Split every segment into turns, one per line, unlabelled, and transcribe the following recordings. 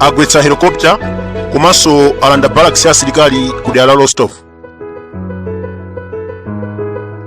agwetsa helicopter komanso alanda barracks ya asilikali ku dera la rostov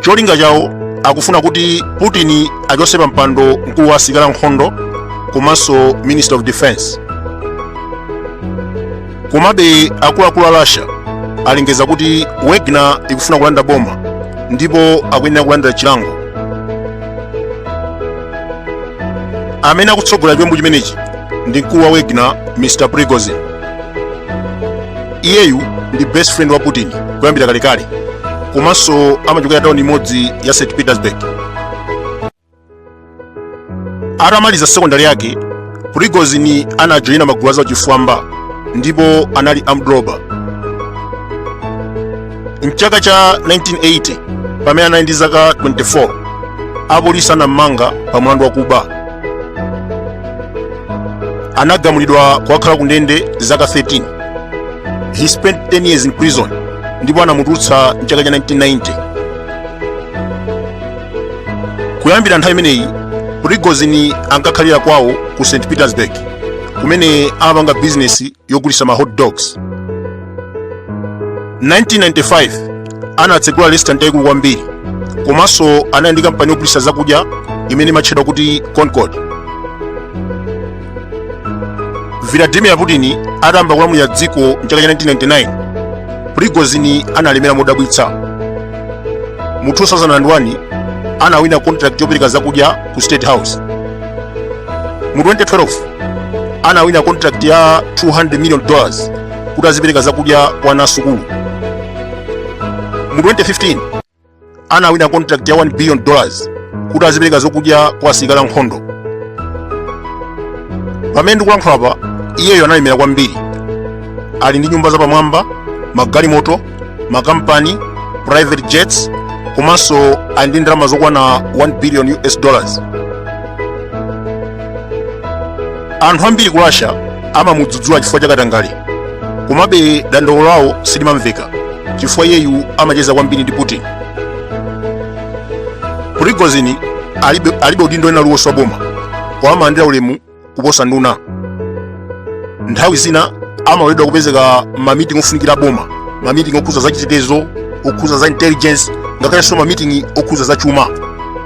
cholinga chawo akufuna kuti putin achotse pa mpando mkulu wa asilikali ankhondo komanso minister of defense komabe akuluakulu a russia alengeza kuti wagner ikufuna kulanda boma ndipo akuyenera kulandira chilango amene akutsogolera chiwembu chimenechi ndi mkulu wa wagner mr prigozhin iyeyu ndi best friend wa putin kuyambira kalekale komanso amachokera tauni imodzi ya st petersburg atamaliza sekondari yake prigozhin anajoyina magulu a zauchifwamba ndipo anali armed robber mchaka cha 1980 pamene anali ndi zaka 24 apolisi anammanga pa mlandu wakuba anagamulidwa kukakhala ku ndende zaka 13 he spent 10 years in prison ndipo anamutulutsa mchaka cha 1990 kuyambira nthawi imeneyi prigozhin ankakhalira kwawo ku st petersburg kumene amapanga bizinesi yogulitsa ma hot dogs 1995 anatsegula restaurant yayikulu kwambiri komanso anali ndi kampani yogulitsa zakudya imene imatchedwa kuti concord vladimir putin atayamba kulamulira dziko mchaka cha 1999 prigozhin analemera modabwitsa mu 2001 anawina contract yopereka zakudya ku state house mu 2012 anawina contract ya 200 million dollars kuti azipereka zakudya kwa ana asukulu mu 2015 anawina contract ya 1 billion dollars kuti azipereka zokudya kwa asilikali ankhondo pamene ndikulankhula apa iyeyo analemera kwambiri ali ndi nyumba zapamwamba magalimoto makampani private jets komanso ali ndi ndalama zokwana 1 billion us dollars anthu ambiri ku russia amamudzudzula chifukwa cha katangale komabe dandaulo lawo silimamveka chifukwa iyeyu amacheza kwambiri ndi putin prigozhin alibe udindo wina uliwonse wa boma koma amalandira ulemu kuposa nduna nthawi zina amaloledwa kupezeka mamiting ofunikira boma mamiting okhuza za chitetezo okhuza za intelligence ngakhalenso mamiting okhuza za chuma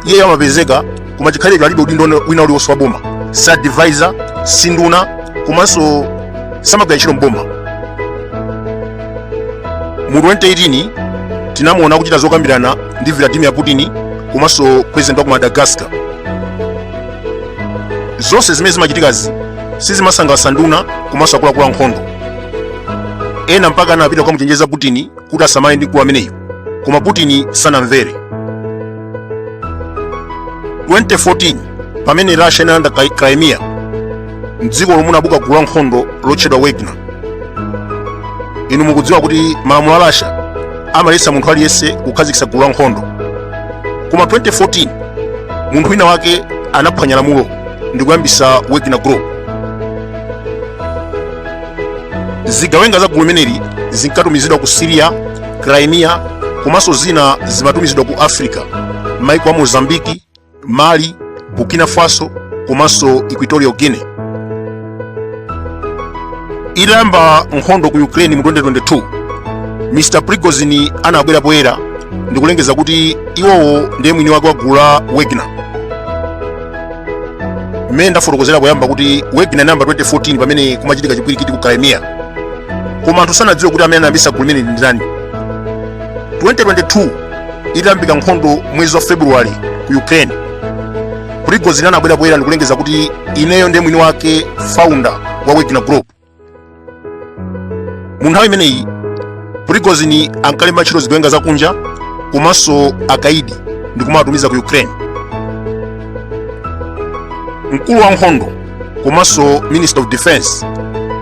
iyeyo amapezeka koma chikhalirecho alibe udindo wina uliwonse wa boma si advisor si nduna komanso samagwira ntchito mboma mu 2018 tinamuona kuchita zokambirana ndi vladimir putin komanso president wa ku madagascar zonse zimene zimachitikazi sizimasangalatsa nduna komanso akuluakulu ankhondo ena mpaka anapita kukamuchenjeza putin kuti asamale ndi mkulu ameneyu koma putin sanamvere 2014 pamene russia inalanda crimea mdzikolo munabuka gulu la nkhondo lotchedwa wagner inu mukudziwa kuti malamulo a russia amaletsa munthu aliyense kukhazikitsa gulu la nkhondo koma 2014 munthu wina wake anaphwanya lamulo ndi kuyambitsa wagner group zigawenga za gulu limeneli zinkatumizidwa ku syria crimea komanso zina zimatumizidwa ku africa maiko a mozambique mali burkina faso komanso equatorial guinea itayamba nkhondo ku ukraine mu 2022 mr prigozhin anabwera poyera ndikulengeza kuti iwowo ndiye mwini wake wa gulu la wagner mmene ndafotokozera poyamba kuti wagner inayamba 2014 pamene kumachitika chipwirikiti ku crimea koma anthu sanadziwe kuti amene anayambisa gulu limeneli ndi ndani 2022 itayambika nkhondo mwezi wa february ku ukraine prigozhin anabwera poyera ndikulengeza kuti ineyo ndiye mwini wake founder wa wagner group mu nthawi imeneyi prigozhin ankalemba ntchito zigawenga zakunja komanso akaidi ndi kumawatumiza ku ukraine mkulu wa nkhondo komanso minister of defense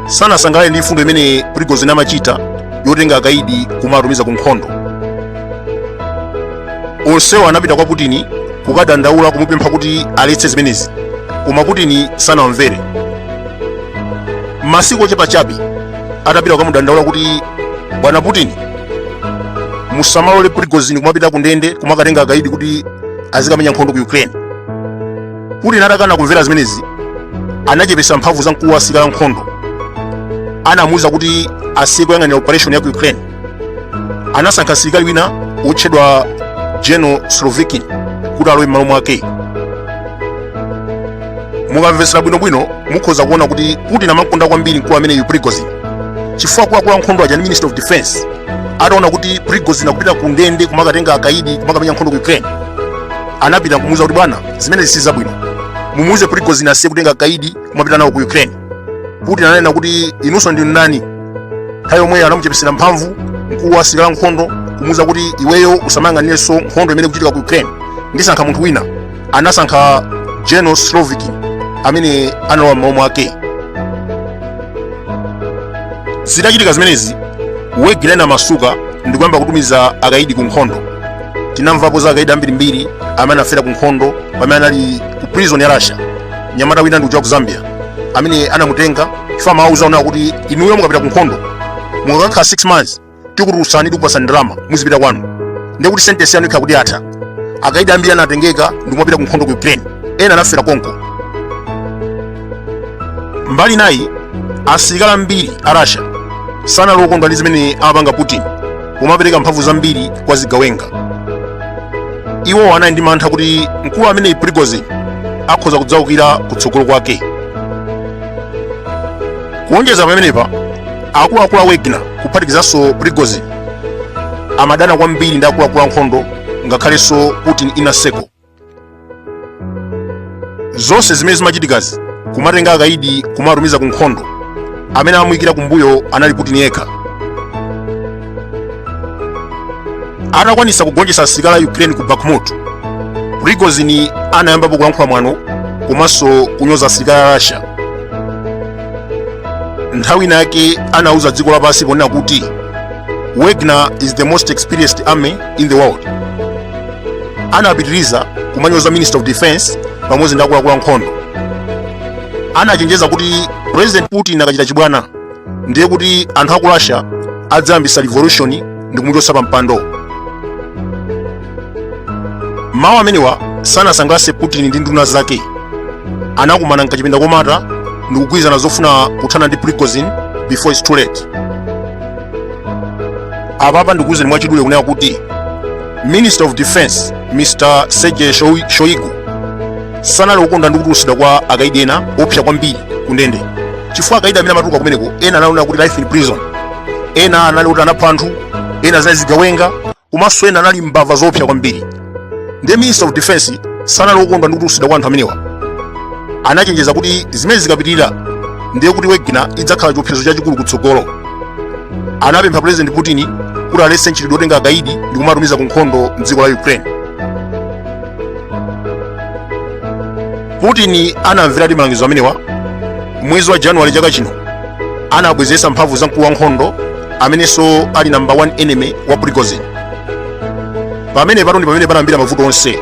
sanasangalale ndi mfundo imene prigozhin amachita yotenga akaidi kumawatumiza ku nkhondo onsewo anapita kwa putin kukadandaula kumupempha kuti aletse zimenezi koma putin sanamvere masiku ochepa chabe atapita kukamudandaula kuti bwana putin musamalole prigozhin kumapita ku ndende kumakatenga akaidi kuti azikamenya nkhondo ku ukraine putin atakana kumvera zimenezi anachepesa mphamvu za mkulu wa asilikali ankhondo anamuwuza kuti asiye kuyang'anira operation ya ku ukraine anasankha msilikali wina wotchedwa general surovikin kuti alowe m'malo mwake mukamvetsera bwinobwino mukhoza kuona kuti putin amamkonda kwambiri mkulu ameneyu prigozhin chifukwa akuluakulu ankhondo aja ndi minister of defense ataona kuti prigozhin akupita ku ndende kumakatenga akaidi kumakamenya nkhondo ku ukraine anapita kumuuza kuti bwana zimenezi si zabwino mumuuze prigozhin asiye kutenga akaidi kumapita nawo ku ukraine putin ananena kuti inunso ndinu ndani nthawi yomweyo anamuchepesera mphamvu mkulu wa asilikali ankhondo kumuuza kuti iweyo usamayang'anirenso nkhondo imene ikuchitika ku ukraine ndisankha munthu wina anasankha general surovikin amene analowa m'malo mwake zitachitika zimenezi wagner anamasuka ndi kuyamba kutumiza akaidi ku nkhondo tinamvapo za akaidi ambirimbiri amene anafera ku nkhondo pamene anali ku prison ya russia mnyamata wina ndi uja wa ku zambia amene anamutenga chifukwa amawauza kunena kuti inuyo mukapita ku nkhondo mukakakhala 6 months tikutulutsani tikupasani ndalama muzipita kwanu ndiye kuti sentence yanu ikhala kuti yatha akaidi ambiri anatengeka ndikumapita ku nkhondo ku ukraine ena anafera konko mbali inayi asilikali ambiri a russia sanali okondwa ndi zimene amapanga putin pomapereka mphamvu zambiri kwa zigawenga iwo anali ndi mantha kuti mkulu ameneyi prigozhin akhoza kudzaukira kutsogolo kwake kuonjeza pamenepa akuluakulu a wagner kuphatikizanso prigozhin amadana kwambiri ndi akuluakulu ankhondo ngakhalenso putin inner circle zonse zimene zimachitikazi kumatenga akaidi kumatumiza ku nkhondo amene amamuyikira kumbuyo anali putin yekha atakwanisa kugonjetsa asilikali a ukraine ku bakhmut prigozhin anayambapo kulankhula mwano komanso kunyoza asilikali a russia nthawi inayake anauza dziko lapansi ponena kuti wagner is the most experienced army in the world anapitiriza kumanyoza minister of defense pamodzi ndi akuluakulu ankhondo anachenjeza kuti president putin akachita chibwana ndiye kuti anthu aku russia adzayambisa revolution ndi kumuchotsa pa mpando mawu amenewa sanasangalatse putin ndi nduna zake anakumana m'kachipinda komata ndikugwirizana zofuna kuthana ndi prigozhin before its too late apapa ndikuwuzeni mwachidule kunena kuti minister of defense mr sergey shoigu sanali okondwa ndi kutulutsidwa kwa akaidi ena oopsa kwambiri ku ndende chifukwa akaidi amene amatuluka kumeneko ena anali kunena kuti life in prison ena anali kuti anapha anthu ena zinali zigawenga komanso ena anali mbava zoopsa kwambiri ndiye minister of defense sanali okondwa ndi kutulutsidwa kwa anthu amenewa anachenjeza kuti zimenezi zikapitirira ndiye kuti wagner idzakhala chiopsezo chachikulu kutsogolo anapempha president putin kuti aletse mchitidwe otenga akaidi ndi kumatumiza ku nkhondo mdziko la ukraine putin anamveradi malangizo amenewa mwezi wa januwale chaka chino anabwezeretsa mphamvu za mkulu wa nkhondo amenenso ali number 1 enemy wa prigozhin pamene pano ndi pamene panayambira mavuto onse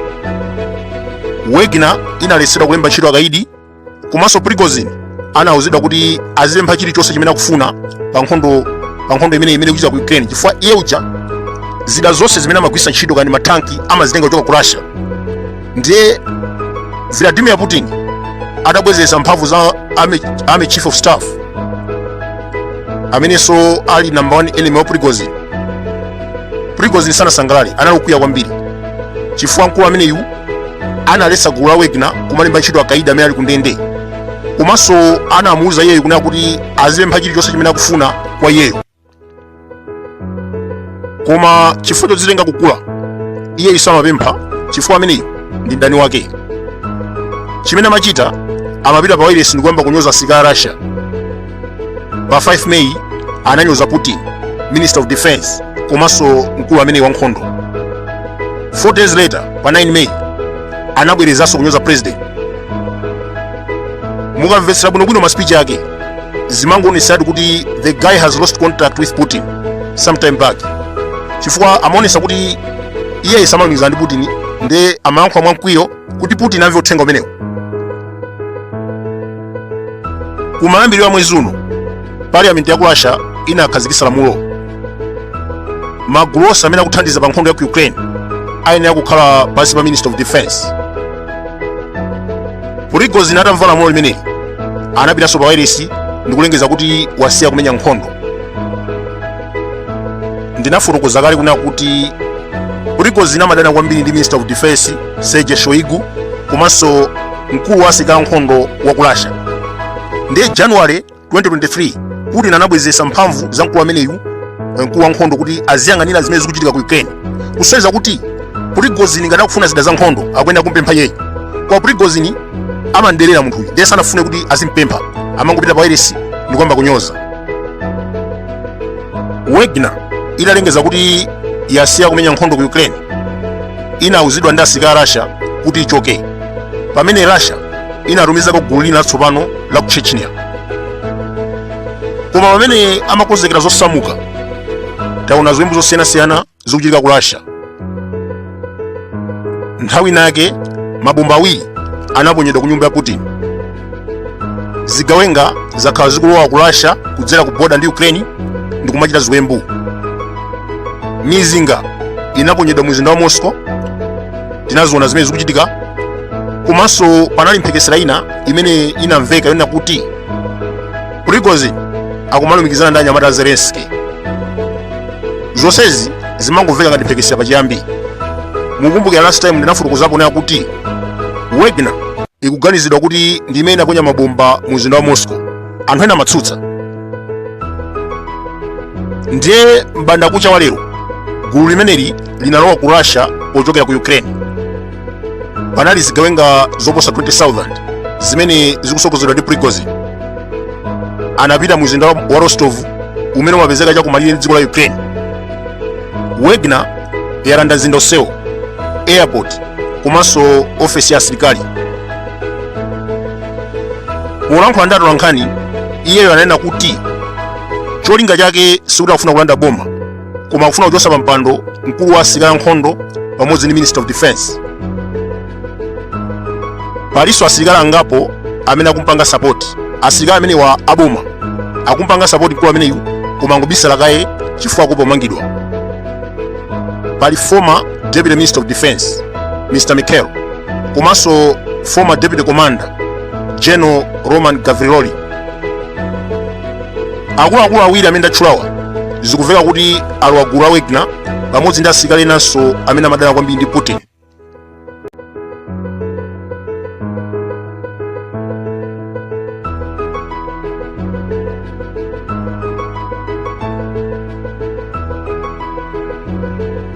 wagner inaletsedwa kulemba ntchito akaidi komanso prigozhin anauzidwa kuti azipempha chilichonse chimene akufuna pa nkhondo imene ikuchitika ku ukraine chifukwa iye uja zida zonse zimene amagwiritsa ntchito kaya ndi matanki amazitenga kuchoka ku russia ndiye vladimir putin adabwezeretsa mphamvu za army chief of staff amenenso ali number one enemy wa prigozhin prigozhin sanasangalale anali okwiya kwambiri chifukwa mkulu ameneyu analetsa gulu la wagner kumalemba ntchito akaidi amene ali kundende komanso anamuwuza iyeyo kunena kuti azipempha chilichonse chimene akufuna kwa iyeyo koma chifukwa chodzitenga kukula iyeyu samapempha chifukwa ameneyu ndi mdani wake chimene amachita amapita pa wailesi ndi kuyamba kunyoza asirikali a russia pa 5 may ananyoza putin minister of defense komanso mkulu ameneyi wa nkhondo 4 days later pa 9 may anabwerezanso kunyoza president mukamvetsera bwinobwino maspeech ake zimangoonetsadi kuti the guy has lost contact with putin sometime back chifukwa amaonesa kuti iye samalumikizana ndi putin nde amayankhula mwamkwiyo kuti putin amve uthenga umenewu kumayambiriro a mwezi uno parliament ya ku russia inakhazikitsa lamulo magulu onse amene akuthandiza pa nkhondo ya ku ukraine ayenera kukhala pansi pa minister of defense prigozhin atamva lamulo limeneli anapitanso pa wailesi ndi kulengeza kuti wasiya kumenya nkhondo ndinafotokoza kale kunena kuti prigozhin amadana kwambiri ndi minister of defense sergei shoigu komanso mkulu wa asilikali ankhondo wa ku russia ndiye january 2023 putin anabwezeretsa mphamvu za mkulu ameneyu eh, mkulu wa nkhondo kuti aziyang'anira zimene zikuchitika ku ukraine kusonyeza kuti prigozhin ngati akufuna zida za nkhondo akuyenera kumpempha iyeyi koma prigozhin amamuderera munthuyu ndiye sanafune kuti azimpempha amangopita pa wailesi ndi kuyamba kunyoza wagner italengeza kuti yasiya kumenya nkhondo ku ukraine inauzidwa ndi asirikali a russia kuti ichoke pamene russia inatumizako gulu lina latsopano la ku chechnya koma pamene amakonzekera zosamuka taona ziwembu zosiyanasiyana zikuchitika ku russia nthawi inayake mabomba awiri anaponyedwa ku nyumba ya putin zigawenga zakhala zikulowa ku russia kudzera ku boda ndi ukraine ndi kumachita ziwembu mizinga inaponyedwa mu mzinda wa moscow tinaziona zimene zikuchitika komanso panali mphekesera ina imene inamveka yonena kuti prigozhin akumalumikizana ndi anyamata a zelenski zonsezi zimangomveka ngati mphekesera pachiyambi mukumbukira last time ndinafotokozapo kunena kuti wagner ikuganizidwa kuti ndi imene inaponya mabomba mu mzinda wa moscow anthu ena amatsutsa ndiye m'bandakucha wa lero gulu limeneli linalowa ku russia pochokera ku ukraine panali zigawenga zoposa 20,000 zimene zikusogozedwa ndi prigozhin anapita mu mzinda wa rostov umene umapezeka chakumalire ndi dziko la ukraine wagner yalanda mzinda onsewo airport komanso ofesi ya asilikali polankhula ndi atolankhani iyeyo ananena kuti cholinga chake sikuti akufuna kulanda boma koma akufuna kuchosa pa mpando mkulu wa asilikali ankhondo pamodzi ndi minister of defense palinso asilikali angapo amene akumpanga sapoti asilikali amenewa aboma akumpanga sapoti mkulu ameneyu koma angobisala kaye chifukwa akuopa kumangidwa pali former deputy minister of defense mr michael komanso former deputy commander general roman gavriloli akuluakulu awiri amene ndatchulawa zikumveka kuti alowa gulu la wagner pamodzi ndi asilikali enanso amene amadana kwambiri ndi putin